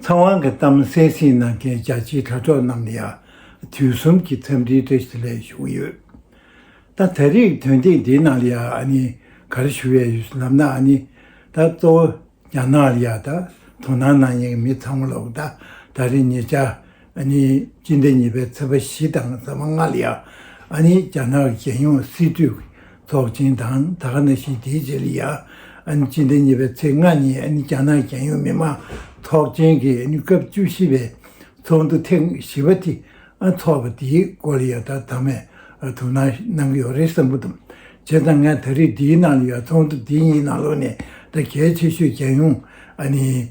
ཚང་དབང་གི་གཏམ་གསལ་བཤད་གནང་མཁན་རྒྱ་ཆེའི་དྲ་གྲོགས་རྣམས་ལ་ཡང་དུས་གསུམ་གྱི་འཚམས་འདྲིའི་བཀྲ་ཤིས་ལན་ཞུ་གི་ཡོད། ད་ད་རེས་དོན་ཐེངས་འདིའི་ནང་ལ་ཡང་གར་ཞུ་བའི་ལམ་ན་ད་གཙོ་བོ་རྒྱ་ནག་ལ་ཡང་དོ་སྣང་གནང་མཁན་གྱི་མི་ཚང་མ་ལ་ད་རེས་ཉེ་ཆར་ཨནི་སྤྱི་ཟླ་གཉིས་པའི་ཚེས་པ་བཞི་དང་ཚེས་མ་ལྔ་ལ་ཡང་ཨནི་རྒྱ་ནག་རྒྱལ་ཡོངས་སྲིད་གྲོས་ཀྱི་ཚོགས་ཆེན་དང་ད་ག་ན་ཤི་དེའི་རྗེས་ལ་ཡང་ཨནི་སྤྱི་ཟླ་གཉིས་པའི་ཚེས་ལྔ་ཉིན་ཨནི་རྒྱ་ནག་རྒྱལ་ཡོངས་མི་དམངས་ཚོགས་ཆེན་གྱི་ཨནི་སྐབས་བཅུ་བཞི་པའི་ཚོགས་འདུ་ཐེངས་བཞི་པ་དེ་འཚོགས་པ་དེའི་སྐོར་ལ་ཡང་ད་ད་མས་དོ་སྣང་གནང་གི་ཡོད་རེད་བསམ་གྱི་འདུག་བྱས་ཙང་ང་ད་རེས་འདིའི་ནང་ལ་ཡོད་ཚོགས་འདུ་འདི་གཉིས་ནང་ལོགས་ནས་ད་གལ་ཆེ་ཤོས་རྒྱལ་ཡོངས་ཨནི།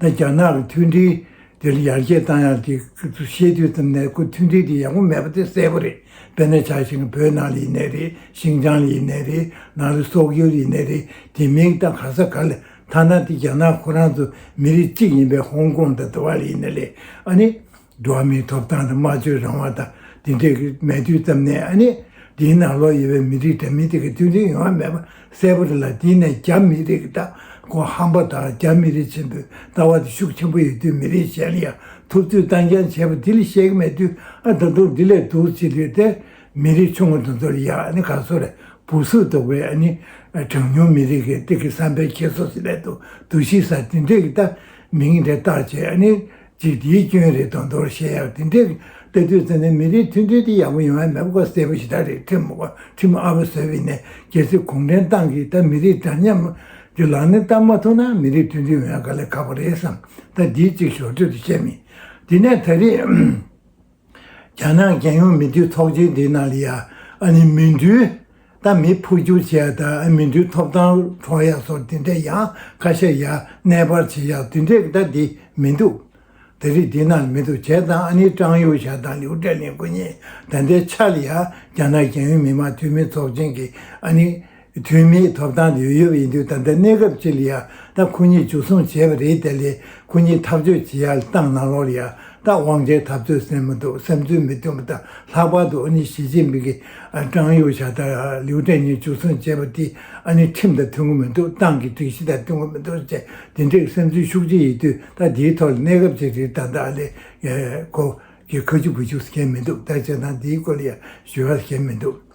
ད་རྒྱ་ནག་གི་མཐུན་སྒྲིལ་དེར་ཡར་རྒྱས་བཏང་ཡག་ཅིག་བཤད་དུས་ཙམ་ནས་ཁོ་མཐུན་སྒྲིལ་དེ་ཡག་པོ་མེད་པ་དེ་གསལ་པོ་རེད་དཔེར་ན་ཆ་ཞིང་བོད་ནང་ལ་ཡིན་ནས་རེད་ཤིང་ཅང་ལ་ཡིན་ནས་རེད་ནང་ལ་སོག་ཡུལ་ལ་ཡིན་ནས་རེད་དེ་མིང་ད་ག་ས་ག་ལ་ཐ་ན་དེ་རྒྱ་ནག་ཁོ་རང་ཚོ་མི་རིགས་གཅིག་ཡིན་པའི་ཧོང་ཀོང་དང་ཏཱ་བ་ལ་ཡིན་ནས་ལས་ཨ་ནི། འགྲོ་བ་མིའི་ཐོབ་ཐང་དང་སྨྲ་བརྗོད་རང་དབང་དང་འདི་འདྲའི་མལ་དུས་ཙམ་ནས་ཨ་ནི་འདིའི་ནང་ལོགས་ཡོད་པའི་མི་རིགས་འདྲ་མིན་དེ་གི་མཐུན་སྒྲིལ་ཡོང་བ་མེད་པ་གསལ་པོ་རེད་ལ་འདི་ནས་རྒྱ་མི་རིགས་ཀྱི་ལྟ་སྒོ་ཧམ་པ་དང་རྒྱ་མི་རིགས་ཆེན་པོའི་ལྟ་བ་དེ་ཤུགས་ཆེན་པོ་ཡོད་དུས་མི་རིགས་གཞན་ལ་ཡང་ཐུབ་ཚོད་བཏང་རྐྱང་བྱས་པ་འདི་ལ་བཤད་ཀྱི་མེད་དུས་ཨ་ད་དུང་འདི་ལས་སྡུག་ཅི་ལུས་ཏེ་མི་རིགས་ཆུང་ངུ་དང་མཚོ་རི་ཡག་ཨ་ནི་ག་སོ་རེད་བུ་གཟུགས་རྡོག་པའི་ཨ་ནི་གྲངས་ཉུང་མི་རིགས་ཀྱི་སྟེ་གི་བསམ་པའི་འཁྱེར་སོ་སི་ལས་དུ་དུ་ཤི་ས་འདི་འདྲའི་གི་ལྟ་མི་ངན་འདྲའི་བཏགས་བྱས་ཨ་ནི། ཅིག་དེའི་སྐྱོན་རེད་དོན་དོར་བཤད་ཡག་དེ་འདྲའི་དཔེ་དོད་བཙལ་ནས་མི་རིགས་མཐུན་སྒྲིལ་དེ་ཡག་པོ་ཡོང་ཡ་མེད་པ་ཀོ་བསད་པོ་ཞིག་དག་རེད་ཁྲིམས་ཨ་བ་བཟོས་བའི་ནས་རྒྱལ་སྲིད་གུང་ཁྲན་ཏང་གིས་ད་མི་རིགས་འདྲ་མཉམ་གྱི་ལག་ལེན་བསྟར་མ་ཐུབ་ན་མི་རིགས་མཐུན་སྒྲིལ་ཡོང་ཡ་ག་ལེ་ག་པོ་རེད་བསམ་ད་འདིའི་ཅིག་ཞོར་དུ་དེ་བཤད་མི་དེ་ནས་ད་རེས། རྒྱ་ནག་རྒྱལ་ཡོངས་མི་འདུས་ཚོགས་ཆེན་དེ་ནང་ལི་ཡ་ཨ་ནི་མི་འདུས་ད་མི་འཕོ་འགྱུར་བྱས་ཡག་ད་ཨ་མི་འདུས་ཐོབ་ཐང་གྲོངས་ཡག་སོགས་དེ་འདྲས་ཡང་ཁ་ཤས་ཡག་གནས་སྤར་བྱེད་ཡག་དེ་འདྲས་ད་དེ་མི་འདུག་ད་རིགས་དེ་ནང་མི་འདུག་བྱས་ད་ཨ་ནི་ཀྲང་ཡུ་ཞའི་དང་ལིའུ་ཀྲེ་ལིན་སྐུ་ཉིད་ད་ལྟའི་ཆར་ལི་ཡ་རྒྱ་ནག་རྒྱལ་ཡོངས་མི་དམངས་འཐུས་མི་ཚོགས་ཆེན་གྱི་ཨ་ནི། འཐུས་མིའི་ཐོབ་ཐང་དུ་ཡོད་པ་ཡིན་དུས་ད་ལྟ་གནས་སྐབས་སྤྱི་ལ་ཡང་དག་ཁོ་གཉིས་འཇུ་བཟུང་བྱས་པ་རེད་དེ་ལས་ཁོ་གཉིས་ཐག་གཅོད་བྱེད་ཡག་སྟངས་ནང་ལོགས་ལ་ཡང་དག་དབང་ཆའི་འཐབ་རྩོད་སེམས་མི་འདུག་བསམ་ཚུལ་མི་མཐུན་པ་དང་ལྷག་པར་དུ་ཨ་ནི་ཞི་ཅིན་ཕིང་གིས་ཀྲང་ཡུའུ་ཞའོ་དང་ལིའུ་ཀྲེང་གཉིས་འཇུ་བཟུང་བྱས་པ་དེ་ཨ་ནི་ཁྲིམས་དང་མཐུན་གི་མི་འདུག་ཏང་གི་སྒྲིག་གཞི་དང་མཐུན་གི་མི་འདུག་བཅས་དེ་འདྲའི་བསམ་ཚུལ་ཤུགས་ཆེ་ཡོད་དུས་ད་དེའི་ཐོག་ལ་གནས་སྐབས་སྤྱི་རེད་ད་ད་ལས་ཁོ་གིས་ཁ་མཆུ་བུ་མཆུ་ཟེར་མཁན་མི་འདུག་ད་བྱས་ཙང་དེའི་སྐོར་ལ་ཡང་ཞུ་བ་ལ་ཞེན་མི་འདུག།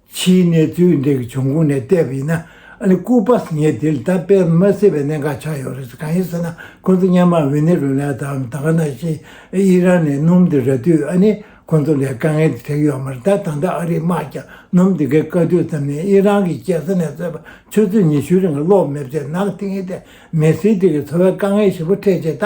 ཕྱིའི་གནས་ཚུལ་འདི་གི་བྱུང་ཁུངས་ནས་བལྟས་པ་ཡིན་ན་ཨ་ལི་ཀུ་པཱས་ངས་དེ་ལྟ་སྤེལ་མ་སྲིད་པའི་གནད་འགག་ཆགས་ཡོད་རེད་གང་ཡིན་ཟེར་ན་ཁོང་ཚོ་མཉམ་དམག་ཝེ་ནེ་རུ་ལཱའི་དང་དཱ་ག་ན་ཤི་ཨི་རན་ནས་སྣུམ་དེ་རག་དུས་ཨ་ནི་ཁོང་ཚོ་ལས་དཀའ་ངལ་དེ་འཕྲད་ཀྱི་ཡོད་མ་རེད་ད་ད་ལྟ་ཨ་རིའི་དམག་ཀྱང་སྣུམ་དེ་གའི་དཀའ་དུས་ཙམ་ནས་ཨི་རན་གྱི་རྒྱལ་ས་ནས་བཟོས་པ་ཆུ་ཚོད་ཉི་ཤུའི་རིང་ལོག་མེད་བཅས་ནག་ཐིང་ཨི་ཏེ་མེ་སི་ཏི་གི་འཚོ་བའི་དཀའ་ངལ་ཞིབ་པོ་འཕྲད་རྗེས་ད་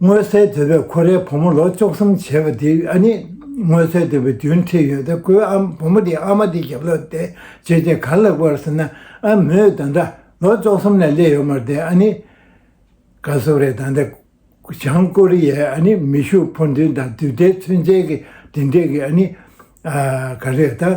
སྔོན་བསད་འདོད་པའི་ཁོ་རའི་བུ་མོ་ལོ་བཅུ་གསུམ་བྱས་པ་དེ་ཨ་ནི་སྔོན་བསད་འདོད་པའི་རྒྱུན་ཁྲིད་ཡོད་ད་ཁོའི་ཨ་བུ་མོ་དེ་ཨ་མ་དེ་རྒྱབ་ལ་བསྡད་རྗེས་དེ་གར་ལེགས་པར་ཟེར་ན་ཨ་མོས་ད་འདྲ་ལོ་བཅུ་གསུམ་ནས་སླེ་ཡོད་མ་རེད་ཨ་ནི། དགའ་བསུ་རེད་ད་འདྲ་བྱང་ཀོ་རི་ཡའི་ཨ་ནི་མི་ཤུགས་འཕོ་འདུན་དང་དུས་བདེའི་ཚུན་ཆད་ཀྱི་འབྲེལ་འདྲིས་ཀྱི་ཨ་ནི། ག་རེ་རེད་ད།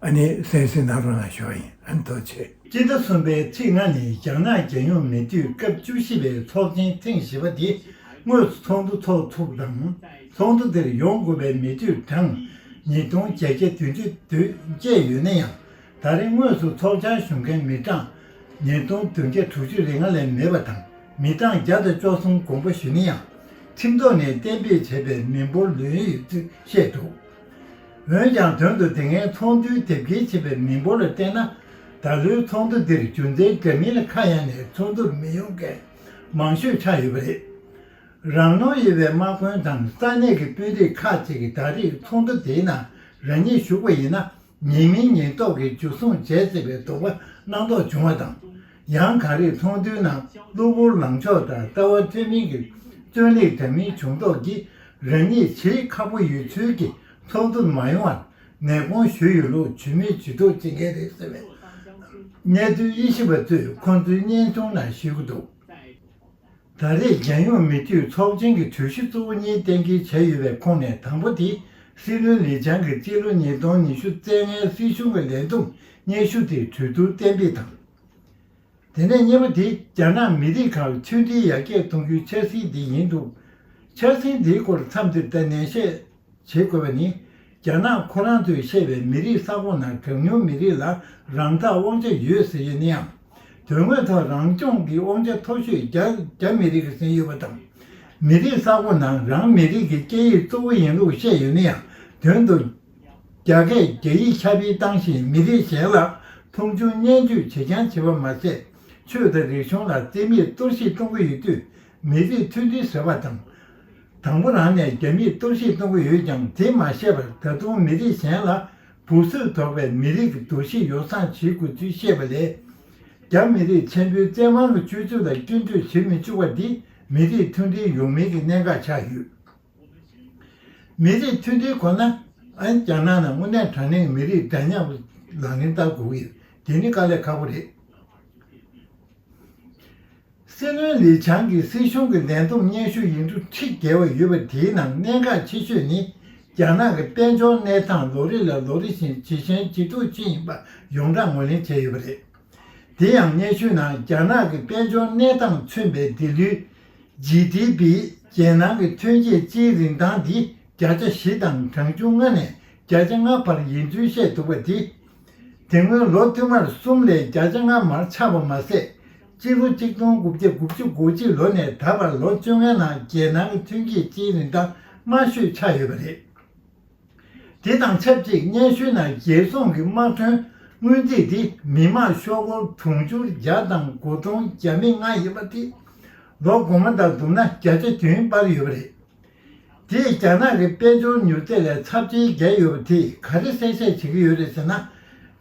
ཨ་ནི་སེན་སི་ནཱ་རོ་ན་ཞོ་ཨིན་ཨན་ཐོ་ཆེ། སྤྱི་ཟླ་གསུམ་པའི་ཚེས་ལྔ་ནི་རྒྱ་ནག་རྒྱལ་ཡོངས་མི་དུས་སྐབས་བཅུ་བཞི་པའི་ཚོགས་ཆེན་ཐེངས་བཞི་པ་དེ་དངོས་སུ་ཚོགས་འདུ་འཚོགས་ཐུབ་དང་ཚོགས་འདུ་དེར་ཡོང་དགོས་པའི་མི་དུས་གྲངས་ཉིས་སྟོང་བརྒྱད་བརྒྱ་དོན་བཅུ་དོན་བརྒྱད་ཡོད་ན་ཡང་ད་རེས་དངོས་སུ་ཚོགས་ཆར་ཞུགས་མཁན་མི་གྲངས་ཉིས་སྟོང་དོན་བརྒྱ་དྲུག་ཅུ་རེ་ལྔ་ལས་མེད་པ་དང་མི་གྲངས་བརྒྱ་དང་བཅོ་གསུམ་དགོངས་པ་ཞུས་ན་ཡང་ཁྲིམས་ཐོག་ནས་གཏན་འབེབས་བྱས་པའི་མི་འབོར་ལོན་ཡོད་ཚུལ་བཤད་འདུག། འོན་ཀྱང་དོན་དུ་དེ་སྔའི་ཚོགས་འདུའི་དེབ་སྐྱེལ་བྱས་པའི་མི་འབོར་ལ་བལྟས་ན། ད་ལོའི་ཚོགས་འདུ་འདིར་རྒྱུ་མཚན་འགའི་མིན་ལ་ཁ་གཡང་ནས་ཚོགས་འདུར་མི་ཡོང་མཁན་མང་ཤོས་ཆགས་ཡོད་པ་རེད། རང་ནོར་ཡོད་པའི་དམག་དཔོན་དང་ས་གནས་ཀྱི་དཔོན་རིགས་ཁག་ཅིག་གིས་ད་རེས་ཚོགས་འདུ་དེའི་ནང་རང་ཉིད་ཞུགས་པ་ཡིན་ན་ཉེས་མིང་ཉེས་རྟོག་གི་འཇུ་བཟུང་བྱས་སྲིད་པའི་དོགས་པ་སྣང་དོགས་བྱུང་བ་དང། ཡང་ག་རེས་ཚོགས་འདུའི་ནང་གློ་བུར་ལངས་ཕྱོགས་དང་ལྟ་བ་འཐད་མིན་གྱི་རྩོད་ལེགས་དྲན་མིན་བྱུང་དོགས་ཀྱིས་རང་ཉིད་ཆེས་ཁག་པོ་ཡོད་ཚུལ་གྱིས་ཚོགས་འདུ་མ་ཡོང་བར་ནད་དགོངས་ཞུས་ཡོད་ལུགས་ཇུས་མེད་ཇུས་གཏོགས་བྱེད་མཁན་རེད་ཟེར་བའི་གནས་ཚུལ་དབྱེ་ཞིབ་པ་ཚོས་ཁོང་ཚོའི་སྙན་ཐུང་ནང་ཞུས་འདུག། ད་རེས་རྒྱལ་ཡོངས་མི་འཐུས་ཚོགས་ཆེན་གྱི་གྲོས་གཞི་གཙོ་བོ་གཉིས་གཏན་འཁེལ་བྱས་ཡོད་པའི་ཁོངས་ནས་དང་པོ་དེ་སྲིད་བློན་ལི་ཆང་གི་སྤྱི་ལོ་ཉིས་སྟོང་ཉི་ཤུ་རྩེད་ལྔའི་སྲིད་གཞུང་གི་ལས་འདུམ་སྙན་ཞུ་དེ་གྲོས་བསྡུར་གཏན་འབེབས་དང། དེ་ནས་གཉིས་པ་དེ་རྒྱ་ནག་མི་རིགས་ཁག་མཐུན་སྒྲིལ་ཡར་རྒྱས་གཏོང་རྒྱུའི་འཆར་ཟིན་དེ་ཡིན་འདུག་འཆར་ཟིན་དེའི་སྐོར་མཚམས་འདིར་བསྟན་ནན་བཤད། བྱེད་དགོས་པ་ནི། རྒྱ་ནག་ཁོ་རང་ཚོས་བཤད་པའི་མི་རིགས་ས་ཁོངས་ནང་གྲངས་ཉུང་མི་རིགས་ལ་རང་ཐག་དབང་ཆ་ཡོད་ཟེར་ཡོད་ནའང། དོན་དངོས་ཐོག་རང་སྐྱོང་གི་དབང་ཆ་མཐོ་ཤོས་རྒྱ་མི་རིགས་ཟིན་ཡོད་པ་དང། མི་རིགས་ས་ཁོངས་ནང་རང་མི་རིགས་ཀྱི་སྐད་ཡིག་གཙོ་བོ་ཡིན་ལུགས་བཤད་ཡོད་ནའང་དོན་དུ། རྒྱ་སྐད་རྒྱ་ཡིག་ཁྱབ་སྤེལ་བཏང་ཞིང་མི་རིགས་གཞན་ལ་མཐོང་ཆུང་བརྙས་བཅོས་བྱེད་རྐྱང་བྱེད་པ་མ་ཟད། ཆོས་དང་རིག་གཞུང་ལ་རྩིས་མེད་གཏོར་བཤིག་གཏོང་གི་ཡོད་དུས། མི་རིགས་མཐུན་སྒྲིལ་ཟེར་བ་དང། དང་པོ་རང་ནས་རྒྱ་མིས་གཏོར་བཤིག་གཏོང་གི་ཡོད་ཀྱང་དེ་མ་ཤེས་པར་ད་དུང་མི་རིགས་གཞན་ལ་འབུ་གསོད་དོགས་པའི་མི་རིགས་ཀྱི་འདུ་ཤེས་ཡོ་བསྲང་བྱེད་དགོས་ཚུལ་བཤད་པ་ལས། རྒྱ་མི་རིགས་ཆེན་པོའི་བཙན་དབང་གི་སྤྱོད་ཚུལ་ལ་སྐྱོན་བརྗོད་བྱེད་མི་བཅུག་པ་འདི་མི་རིགས་མཐུན་སྒྲིལ་ཡོང་མིན་གྱི་གནད་འགག་ཆགས་ཡོད། མི་རིགས་མཐུན་སྒྲིལ་ཁོ་ན་རྒྱ་ནག་ནང་དངོས་གནས་དྲང་གནས་མི་རིགས་འདྲ་མཉམ་ལག་ལེན་བསྟར་དགོས་ཀྱི་ཡོད་དེ་ནི་དཀའ་ལས་ཁག་པོ་རེད། སྲིད་བློན་ལི་ཆང་གིས་སྲིད་གཞུང་གི་ལས་འཛོམས་སྙན་ཞུ་ཡིག་འབྲུ་ཁྲི་བརྒལ་བ་ཡོད་པ་དེའི་ནང་གནད་འགག་ཆེ་ཤོས་ནི་རྒྱ་ནག་གི་དཔལ་འབྱོར་གནས་སྟངས་ལོ་རེ་ལ་ལོ་རེ་བཞིན་ཇེ་ཞན་ཇེ་སྡུག་ཕྱིན་ཡིན་པ་ཡོངས་གྲགས་ངོས་ལེན་བྱས་ཡོད་པ་རེད། དེ་ཡང་སྙན་ཞུའི་ནང་རྒྱ་ནག་གི་དཔལ་འབྱོར་གནས་སྟངས་མཚོན་པའི་སྡེ་ལུས། GDP། རྒྱལ་ནང་གི་ཐོན་སྐྱེད་སྤྱིའི་རིན་ཐང་དེ་བརྒྱ་ཆ་བཞི་དང་གྲངས་ཆུང་ལྔ་ནས་བརྒྱ་ཆ་ལྔ་བར་ཡིན་ཚུལ་བཤད་འདུག་པ་དེ། དེ་སྔོན་ལོ་བསྟུད་མར་གསུམ་ལས་བརྒྱ་ཆ་ལྔ་མར་ཆག་པ་མ་ཟད། སྤྱི་ལོ་གཅིག་སྟོང་དགུ་བརྒྱ་དགུ་བཅུ་གོ་གཅིག་ལོ་ནས་ད་བར་ལོ་བཅོ་ལྔའི་ནང་རྒྱལ་ནང་གི་ཐོན་སྐྱེད་སྤྱིའི་རིན་ཐང་དམའ་ཤོས་ཆགས་ཡོད་པ་རེད། དེ་དང་ཆབས་ཅིག་སྙན་ཞུའི་ནང་རྒྱལ་ཚོང་གི་དམག་དོན་སྔོན་རྩིས་དེ་མི་དམངས་ཤོག་སྒོར་དུང་ཕྱུར་བརྒྱ་དང་དགུ་སྟོང་བརྒྱ་མི་ལྔ་ཡིན་པ་དེ་ལོ་གོང་མ་དང་བསྡུར་ན་བརྒྱ་ཆ་བདུན་སྤར་ཡོད་པ་རེད། དེས་རྒྱ་ནག་གི་དཔལ་འབྱོར་མྱུར་ཚད་ལས་ཚབས་ཆེའི་བརྒལ་ཡོད་པ་དེས་ག་རེ་གསལ་བཤད་བྱེད་ཀྱི་ཡོད་རེད་ཟེར་ན།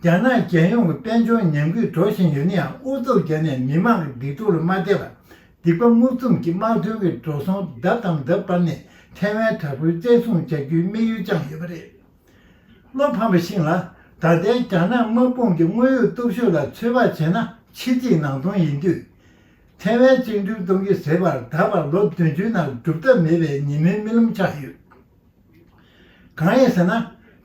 རྒྱ་ནག་རྒྱལ་ཡོངས་ཀྱི་དཔལ་འབྱོར་ཉམས་རྒུད་འགྲོ་བཞིན་ཡོད་ན་ཡང་ཨུ་ཚུགས་བརྒྱབ་ནས་མི་མང་གི་སྡིག་སྡུག་ལ་མ་བལྟས་པར་སྡིག་པ་རྔུབ་རྩོམ་གྱིས་དམག་དོན་གྱི་འགྲོ་སོང་ལྡབ་དང་ལྡབ་སྤར་ནས་ཐའེ་ཝན་དྲག་པོའི་བཙན་བཟུང་བྱ་རྒྱུའི་དམིགས་ཡུལ་བཅངས་ཡོད་པ་རེད། བློ་ཕམ་པ་ཞིག་ལ་ད་ལྟའི་རྒྱ་ནག་དམག་དཔུང་གི་དངོས་ཡོད་སྟོབས་ཤུགས་ལ་ཚོད་དཔག་བྱས་ན་ཕྱི་རྫིག་ནང་སྟོང་ཡིན་དུས། ཐའེ་ཝན་བཅིངས་འགྲོལ་གཏོང་གི་ཟེར་བར་ད་བར་ལོ་བདུན་ཅུའི་ནང་སྒྲུབ་ཐབས་མེད་པའི་ཉེས་མིང་རྨི་ལམ་ཆགས་ཡོད། གང་ཡིན་ཟེར་ན་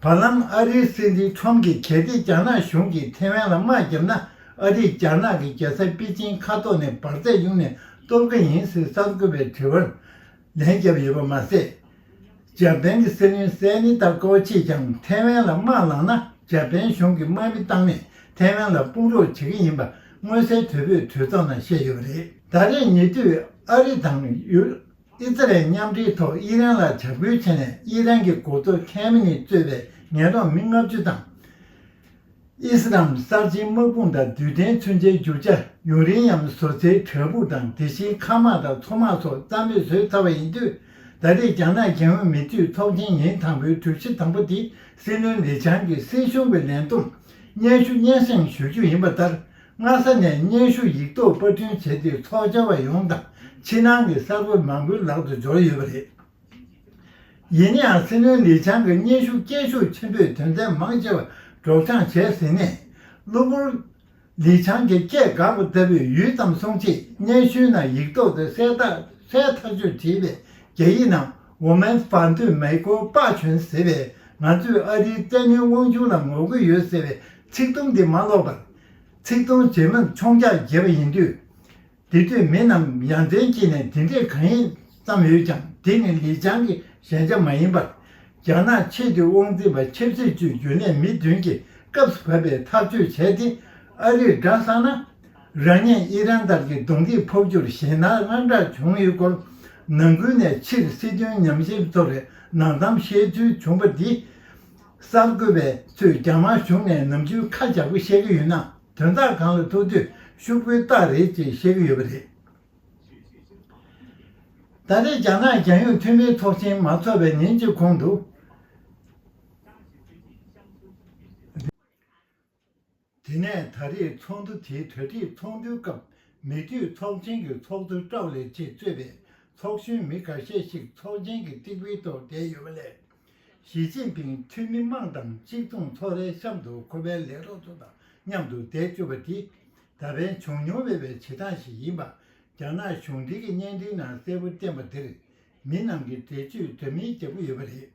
བར་ལམ་ཨ་རིའི་སྲིད་འཛིན་ཁྲོམ་གྱིས་གལ་ཏེ་རྒྱ་ནག་གཞུང་གིས་ཐའེ་ཝན་ལ་དམག་བརྒྱབ་ན་ཨ་རིས་རྒྱ་ནག་གི་རྒྱལ་ས་པེ་ཅིན་ཁ་ཐོག་ནས་འབར་རྫས་གཡུག་ནས་གཏོར་གི་ཡིན་ཟེར་གསར་འགོད་པའི་དྲི་བར། ལན་བརྒྱབ་ཡོད་པ་མ་ཟད། འཇར་པན་གྱི་སྲིད་བློན་སའེ་ནི་ཏཱ་ཀོའུ་ཆེས་ཀྱང་ཐའེ་ཝན་ལ་དམག་བླངས་ན་འཇར་པན་གཞུང་གིས་དམག་མི་བཏང་ནས་ཐའེ་ཝན་ལ་དཔུང་རོགས་བྱེད་ཀྱི་ཡིན་པ་མངོན་གསལ་དོད་པོས་དུས་མཚམས་ནང་བཤད་ཡོད་པ་རེད། ད་རེས་ཉེ་དུས་ཨ་རི་དང། ཨི་ཛི་རལ་མཉམ་འབྲེལ་ཐོག་དབྱི་རན་ལ་བྱ་འགུལ་བྱས་ནས་དབྱི་རན་གྱི་འགོ་གཙོ་ཁན་མི་ནི་གཙོས་པའི་ངན་རོགས་མི་ལྔ་བཅུ་དང། དབྱི་སི་རམ་གསར་བརྗེའི་དམག་དཔུང་དང་དུས་གཏན་མཚོན་ཆའི་རྒྱུ་ཆ་ཡུང་རིང་ཡམ་བཟོ་རྩལ་དྲ་འབུ་དང་དེ་བཞིན་མཁའ་དམག་དང་མཚོ་དམག་སོགས་རྩ་མེད་བཟོས་ཚར་བ་ཡིན་དུས་ད་རེས་རྒྱ་ནག་རྒྱལ་ཡོངས་མི་མཐུད་ཚོགས་ཆེན་ཉིན་དང་པོའི་གྲོས་གཞི་དང་པོ་དེ་སྲིད་བློན་ལི་ཆང་གིས་སྲིད་གཞུང་གི་ལས་མཐོར་སྙན་ཞུ་སྙན་སེང་ཞུ་རྒྱུ་ཡིན་པ་ལྟར་སྔ་ས་ནས་སྙན་ཞུ་ཡིག་ཐོག་པར་སྐྲུན་བྱས་ཏེ་ཚོགས་བཅར་བ་ཡོངས་དང་ཕྱི་ནང་གི་གསར་བུ་མང་པོའི་ལག་ཏུ་འབྱོར་ཡོད་པ་རེད། ཡིན་ནའང་སྲིད་བློན་ལི་ཆང་གི་སྙན་ཞུ་སྐད་ཤུགས་ཆེན་པོས་དོན་ཚན་མང་ཆེ་བ་སྒྲོག་སྦྱངས་བྱས་ཟིན་ནས། གློ་བུར། ལི་ཆང་གིས་སྐད་དགག་པ་ལྟ་བུས་ཡུད་ཙམ་སོང་རྗེས་སྙན་ཞུའི་ནང་ཡིག་ཐོག་ཏུ་གསལ་ཐག་ཆོད་བྲིས་པའི་རྒྱ་ཡིག་ནང་ཝུ་མེན་བྷ་ཏུ་མེ་ཀོ་པ་ཆོན་ཟེར་བས་ང་ཚོས་ཨ་རིའི་བཙན་གནོན་དབང་ཆུང་ལ་ངོ་རྒོལ་ཡོད་ཟེར་བའི་ཚིག་དུམ་དེ་མ་ཀློག་པར། ཚིག་དོན་རྗེས་མར་མཆོང་རྒྱག་བྱེད་པ་ཡིན་དུས། དེ་དུས་མི་རྣམས་ཡ་མཚན་སྐྱེས་ནས་དེ་འདྲས་གང་ཡིན་བརྩམས་ཡོད་ཀྱང་དེ་ནི་ལིས་ཅང་གི་ཞན་ཆ་མ་ཡིན་པར། རྒྱ་ནག་ཆེས་མཐོའི་དབང་འཛིན་པ་ཆབ་སྲིད་ཅུས་རྒྱུན་ལས་མི་བདུན་གྱིས་སྐབས་སུ་བབ་པའི་ཐག་གཅོད་བྱས་ཏེ། ཨ་རིར་བསྒྲགས་བསམ་ན། རང་ཉིད་ཨི་རན་ལྟར་གྱི་གདོང་གིས་ཕོག་རྒྱུར་ཞེད་སྣང་དངངས་སྐྲག་བྱུང་ཡོད་སྐོར། ནང་ཁུལ་ནས་ཕྱིར་སྲིད་དོན་ཉམས་ཞིབ་ཚོགས་རའི་ནང་གཏམ་བཤད་ཚུལ་བྱུང་པ་འདིས། གསར་འགོད་པས་ཚོས་རྒྱ་དམར་གཞུང་ནས་ནམ་རྒྱུན་ཁ་འཇགས་པོ་བཤད་ཀྱི་ཡོད་ན། དོན་དག་གང་ལ་ཐུག་དུས་ཤུགས་པོའི་རྟགས་རེད་ཅེས་བཤད་ཀྱི་ཡོད་པ་རེད། ད་རེས་རྒྱ་ནག་རྒྱལ་ཡོངས་འཐུས་མིའི་ཚོགས་ཆེན་མ་ཚོགས་པའི་ཉིན་གཅིག་གོང་དུ། དེ་ནས་ད་རེས་ཚོགས་འདུ་དེའི་གྲ་སྒྲིག་ཚོགས་འདུའི་སྐབས་མི་འཐུས་ཚོགས་ཆེན་གྱི་ཚོགས་གཙོ་ཀྲའོ་ལེ་ཆེས་གཙོས་པའི་ཚོགས་གཞོན་མི་ཁ་ཤས་ཤིག་ཚོགས་ཆེན་གྱི་སྟེགས་བུའི་ཐོག་བསྡད་ཡོད་པ་ལས། ཞི་ཅིན་ཕིང་འཐུས་མི་དམངས་དང་གཅིག་མཚུངས་ཚོགས་རའི་གཤམ་དུ་ཁོ་པའི་ལས་རོགས་ཚོ་དང་མཉམ་དུ་བསྡད་བཅུག་པ་དེ་ད་ཕན་བྱུང་མྱོང་མེད་པའི་བྱེད་སྟངས་ཤིག་ཡིན་པ་རྒྱ་ནག་གཞུང་འབྲེལ་གྱི་བརྙན་འཕྲིན་ནང་གསལ་པོ་བསྟན་པ་འདིར་མི་རྣམས་ཀྱིས་འགྲེལ་བརྗོད་འདྲ་མིན་རྒྱག་གི་ཡོད་པ་རེད།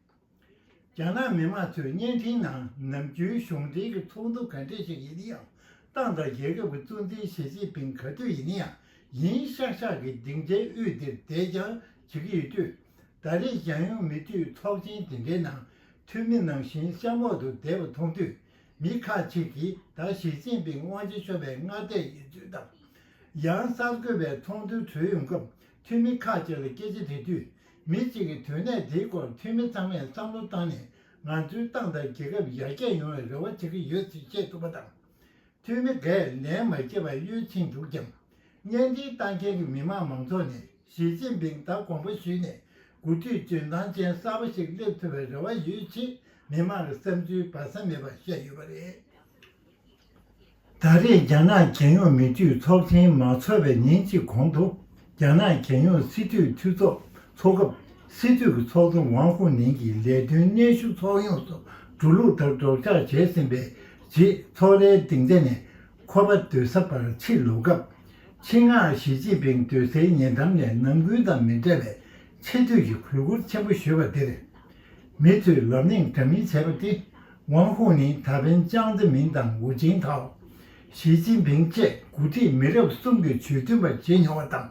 རྒྱ་ནག་མི་དམངས་ཚོས་བརྙན་འཕྲིན་ནང་ནམ་རྒྱུན་གཞུང་འབྲེལ་གྱི་ཚོགས་འདུ་ག་འདྲས་ཤིག་ཡིན་ཡང་ཏང་དང་རྒྱལ་ཁབ་ཀྱི་གཙོ་འཛིན་ཞི་ཅིན་ཕིང་ག་དུས་ཡིན་ཡང་ཡིན་ཤག་ཤག་གིས་སྡིངས་ཆའི་དབུས་འདིར་བསྡད་རྐྱང་བྱེད་ཀྱི་ཡོད་དུས། ད་རེས་ཞང་ཡོངས་མི་འཐུས་ཚོགས་ཆེན་དེ་འདྲའི་ནང་འཐུས་མི་ནང་བཞིན་གཤམ་འོག་ཏུ་བསྡད་པ་མཐོང་དུས་མི་ཁག་ཅིག་གིས་ད་ཞི་ཅིན་ཕིང་དབང་ཆ་ཤོར་བའི་སྔ་ལྟས་ཡིན་ཚུལ་དང། ཡང་གསར་འགོད་པའི་ཚོགས་འདུ་གྲོལ་ཡོང་སྐབས་འཐུས་མི་ཁག་ཅིག་ལ་སྐད་ཆ་དྲིས་དུས་མི་གཅིག་གིས་དོན་གནད་དེའི་སྐོར་འཐུས་མི་ཚང་མས་བསམ་བློ་བཏང་ནས་ང་ཚོའི་ཏང་དང་རྒྱལ་ཁབ་ཡར་རྒྱས་ཡོང་བའི་རེ་བ་བྱེད་ཀྱི་ཡོད་ཚུལ་བཤད་ཐུབ་པ་དང། འཐུས་མི་འགས་ལན་མ་བསྐྱེད་པར་གཡོལ་ཕྱིན་འདུག་ཀྱང། བརྙན་འཕྲིན་ལྟ་མཁན་གྱི་མི་དམངས་མང་ཚོགས་ནས་ཞི་ཅིན་ཕིང་ད་དགོངས་པ་ཞུས་ནས་འགོ་ཁྲིད་འཇོན་ཐང་ཅན་གསར་པ་ཞིག་སླེབས་ཐུབ་པའི་རེ་བ་ཡོད་ཅེས་མི་དམངས་ལ་བསམ་ཚུལ་སྦ་ས་མེད་པ་བཤད་ཡོད་པ་རེད། ད་རེས་རྒྱ་ནག་རྒྱལ་ཡོངས་མི་ཆོས་ཚོགས་ཆེན་མ་འཚོགས་པའི་ཉིན་གཅིག་གོང་དུ། རྒྱ་ནག་རྒྱལ་ཡོངས་སྲིད་གྲོས་འཐུས་ཚོགས་འཚོགས་སྐབས་སྲིད་གྲོས་ཀྱི་ཚོགས་གཙོ་ཝང་ཧུའུ་ནན་གྱིས་ལས་དོན་གནས་ཤུགས་ཚོགས་ཡོངས་སུ་འགྲོ་ལུགས་ལྟར་སྒྲོག་སྦྱངས་བྱས་ཟིན་པའི་རྗེས་ཚོགས་རའི་སྡིངས་ཆ་ནས་ཁོ་པ་སྡོད་ས་བར་ཕྱིར་ལོག་སྐབས། ཆིང་ཧྭ་ཞི་ཅིན་ཕིང་སྡོད་སའི་ཉེ་འགྲམ་ནས་ནམ་རྒྱུན་དང་མི་འདྲ་བའི་ཆེ་བསྟོད་ཀྱི་གུས་བཀུར་ཆེན་པོ་ཞུས་པ་དེར། མི་ཚོས་ལབ་གླེང་འདྲ་མིན་བྱས་པ་དེ་ཝང་ཧུའུ་ནན་ད་ཕན་ཅང་ཙེ་མིན་དང་ཝུ་ཅིན་ཐའོ། ཞི་ཅིན་ཕིང་བཅས་མགོ་ཁྲིད་མི་རབས་གསུམ་གྱི་ཇུས་མཐུན་པ་བྱེད་མྱོང་བ་དང།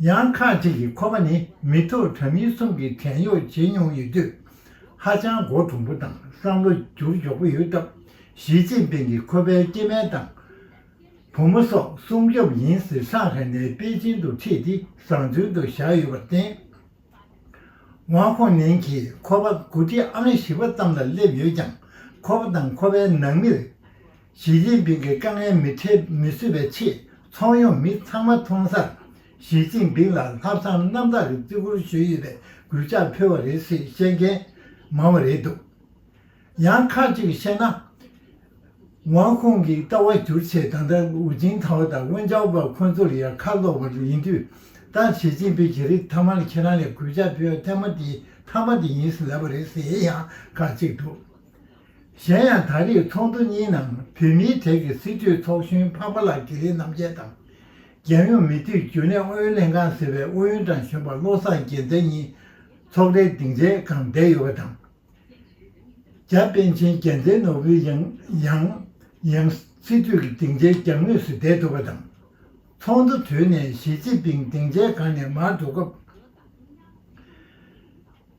ཡང་ཁག་ཅིག་གིས་ཁོ་པ་ནི་མི་ཐོག་དྲ་མིག་གསུམ་གྱི་བྲན་གཡོག་བྱེད་མྱོང་ཡོད་དུས། ཧ་ཅང་མགོ་གྲུང་པོ་དང་བསམ་བློ་འགྱུར་མགྱོགས་པོ་ཡོད་སྟབས་ཞི་ཅིན་ཕིང་གིས་ཁོ་པའི་སྐྱེས་དམན་དང། བུ་མོ་སོགས་སྲུང་སྐྱོབ་ཡིན་ཟེར་ཧྲང་ཧའེ་ནས་པེ་ཅིན་དུ་ཁྲིད་དེ་བཟང་བཙོན་དུ་བཞག་ཡོད་པར་བརྟེན། ཝང་ཧོ་ནན་གྱིས་ཁོ་པ་དགུ་ཁྲི་ཨང་བཞི་པ་ཙམ་ལ་སླེབས་ཡོད་ཀྱང་ཁོ་པ་དང་ཁོ་པའི་ནང་མིར་ཞི་ཅིན་ཕིང་གི་དཀའ་ངལ་མི་འཕྲད་མི་བཟོད་པའི་ཆེད་ཚོགས་ཡོངས་མི་ཚང་མ་མཐོང་སར་ཞི་ཅིན་ཕིང་ལ་ལྷ་བསང་གནམ་བདག་གི་བརྩི་བཀུར་ཞུས་ཡོད་པའི་གུས་ཕྱག་ཕུལ་བ་རེད་ཟེར་བཤད་མཁན་མང་བ་རེད་འདུག་ཡང་ཁ་ཅིག་བཤད་ན། ཝང་ཁུང་གིས་ལྟ་བ་བསྒྱུར་ཆེད་ད་ལྟ་ཝུ་ཅིན་ཐའོ་དང་ཝུན་ཅའོ་པ་ཁོ་ཚོ་ལ་ཡང་ཁ་ལོག་པ་ཡིན་དུས། ད་ཞི་ཅིན་ཕིན་གྱིས་རིགས་ཐ་མ་ལ་ཁྱེད་རང་ལས་གུས་ཅག་ཕེ་ཡོན་ཐེ་མ་ཏིའི་ཐ་མ་དེ་ཡིན་ཟེར་ལབ་པ་རེད་ཟེར་ཡང་ཁ་ཅིག་འདུག་གཞན་ཡང་ད་རེས་ཚོགས་འདུ་གཉིས་ནང་བོད་མིའི་གྲས་ཀྱི་སྲིད་གྲོས་ཚོགས་གཞོན་འཕགས་པ་ལགས་ཀྱིས་ལི་རྣམ་རྒྱལ་དང། རྒྱལ་ཡོངས་མི་དུས་རྒྱུན་ལས་ཨུ་ཡོན་ལྷན་ཁང་ཟེར་བའི་ཨུ་ཡོན་ཀྲང་གཞོན་པ་བློ་བཟང་རྒྱལ་མཚན་གཉིས་ཚོགས་རའི་སྡིངས་ཆའི་སྒང་བསྡད་ཡོད་པ་དང། རྒྱ་དཔལ་ཆེན་རྒྱལ་མཚན་ནོར་བུའི་ཡང་ཡང་ཡང་སྲིད་དུས་ཀྱི་སྡིངས་ཆའི་གྱང་ངོས་སུ་བསྡད་འདུག་པ་དང། ཚོགས་འདུ་དུས་ནས་ཞི་ཅིན་ཕིང་སྡིངས་ཆའི་སྒང་ནས་མར་འགྲོ་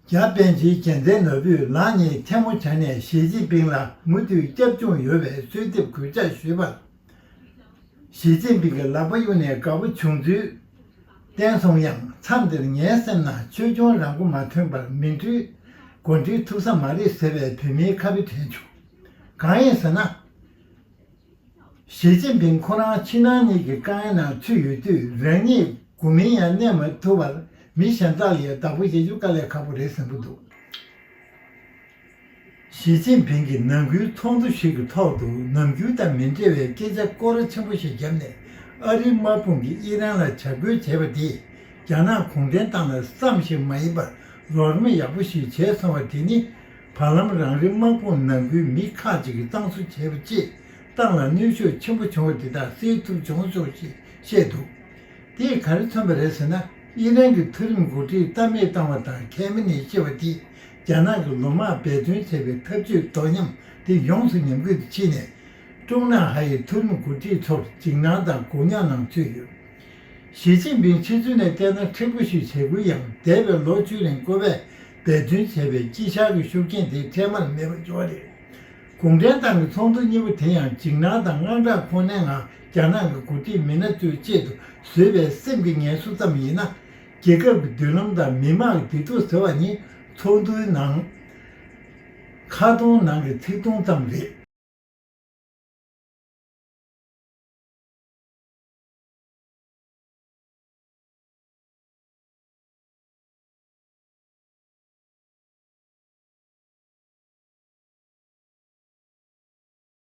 སྐབས། རྒྱ་དཔལ་ཆེན་རྒྱལ་མཚན་ནོར་བུས་ལག་གཉིས་ཐལ་མོ་བྱས་ནས་ཞི་ཅིན་ཕིང་ལ་མུ་མཐུད་སྐྱབས་བཅོལ་ཡོད་པའི་གསོལ་འདེབས་གུས་བཅག་ཞུས་པ། ཞི་ཅིན་ཕིང་གི་ལག་པ་གཡུག་ནས་དགའ་པོ་བྱུང་ཚུལ་བསྟན་སོང་ཡང་མཚམས་འདིར་ངའི་སེམས་ན་ཆོས་སྐྱོང་རང་མགོ་མ་ཐོན་པར་མིན་འཕྲུལ་མགོ་འཁྲིད་ཐུབ་ས་མ་རེད་ཟེར་བའི་བོད་མིའི་ཁ་བུ་དྲན་བྱུང། གང་ཡིན་ཟེར་ན། ཞི་ཅིན་ཕིང་ཁོ་རང་ཕྱི་ནང་གཉིས་ཀྱི་དཀའ་ངལ་ནང་ཚུད་ཡོད་དུས་རང་ཉིད་དགུ་མིང་ཡང་གནས་མ་ཐུབ་པར་མི་གཞན་ཙག་ལི་ཡི་བདག་པོ་བྱེད་རྒྱུ་དཀའ་ལས་ཁག་པོ་རེད་ཟེར་འགོ་འདུག། ཞི་ཅིན་ཕིང་གིས་ནང་ཁུལ་ཚོགས་འདུ་ཞིག་གི་ཐོག་ཏུ་ནམ་རྒྱུན་དང་མི་འབྲེལ་བའི་སྐད་ཆ་སྐོར་ར་ཆེན་པོ་ཞིག་བརྒྱབ་ནས་ཨ་རིའི་དམག་དཔུང་གིས་ཨི་རན་ལ་བྱ་རྒོལ་བྱས་པ་དེས་རྒྱ་ནག་གུང་ཁྲན་ཏང་ལ་བསམ་ཞིག་མ་ཡིན་པར་ལོག་རིམ་ཡག་པོ་ཞིག་བྱས་སོང་བ་དེ་ནི་བར་ལམ་རང་རེའི་དམག་དཔུང་ནང་ཁུལ་མི་ཁག་ཅིག་གིས་གཙང་བཟོ་བྱས་པ་བཅས་ཏང་ལ་གནོད་ཤུགས་ཆེན་པོ་བྱུང་བ་དེ་དག་སེལ་ཐུབ་བྱུང་སོང་ཞེས་བཤད་འདུག་དེས་ག་རེ་མཚོན་པ་རེད་ཟེར་ན་ཨི་རན་གྱི་མཐོ་རིམ་འགོ་ཁྲིད་རྟ་སྨད་བཏང་བ་དང་གྷལ་མེ་ནེ་ཤི་བ་དེས་རྒྱ་ནག་གི་ལོ་མང་འབད་བརྩོན་བྱས་པའི་འཐབ་ཇུས་དོ་མཉམ་དེ་ཡོངས་སུ་ཉམས་རྒུད་དུ་ཕྱིན་ནས། ཀྲུང་ནང་ཧྭ་ཡི་ཐུན་མོང་འགོ་ཁྲིད་ཚོར་འཇིགས་སྣང་དང་དགོངས་གཉའ་གནང་ཚུལ་ཡོད། ཞི་ཅིན་ཕིང་ཕྱི་ཚུལ་ནས་བལྟས་ན་མཁྲེགས་པོ་ཞིག་བྱས་ཁུལ་ཡང་འདས་པའི་ལོ་བཅུ་རིང་ཁོ་པས་འབད་བརྩོན་བྱས་པའི་དཀྱིལ་ཆགས་ཀྱི་ཤུགས་རྐྱེན་དེ་འཕྲལ་མར་མེད་པར་འགྱུར་བ་རེད། གུང་ཁྲན་ཏང་གི་ཚོགས་འདུ་གཉིས་པོ་དེ་ཡང་འཇིགས་སྣང་དང་དངངས་སྐྲག་ཁོ་ནའི་ངང་རྒྱ་ནག་གི་འགོ་ཁྲིད་མི་སྣ་ཚོའི་ཆེད་དུ་བཟོས་པའི་སེམས་ཀྱི་ངལ་གསོ་ཙམ་ཡིན་ན། རྒྱལ་ཁབ་ཀྱི་མདུན་ལམ་དང་མི་དམངས་ཀྱི་བདེ་སྡུག་ཟེར་བ་ནི་ཚོགས་འདུའི་ནང་ཁ་སྟོང་ནང་གི་ཚིག་སྟོང་ཙམ་རེད།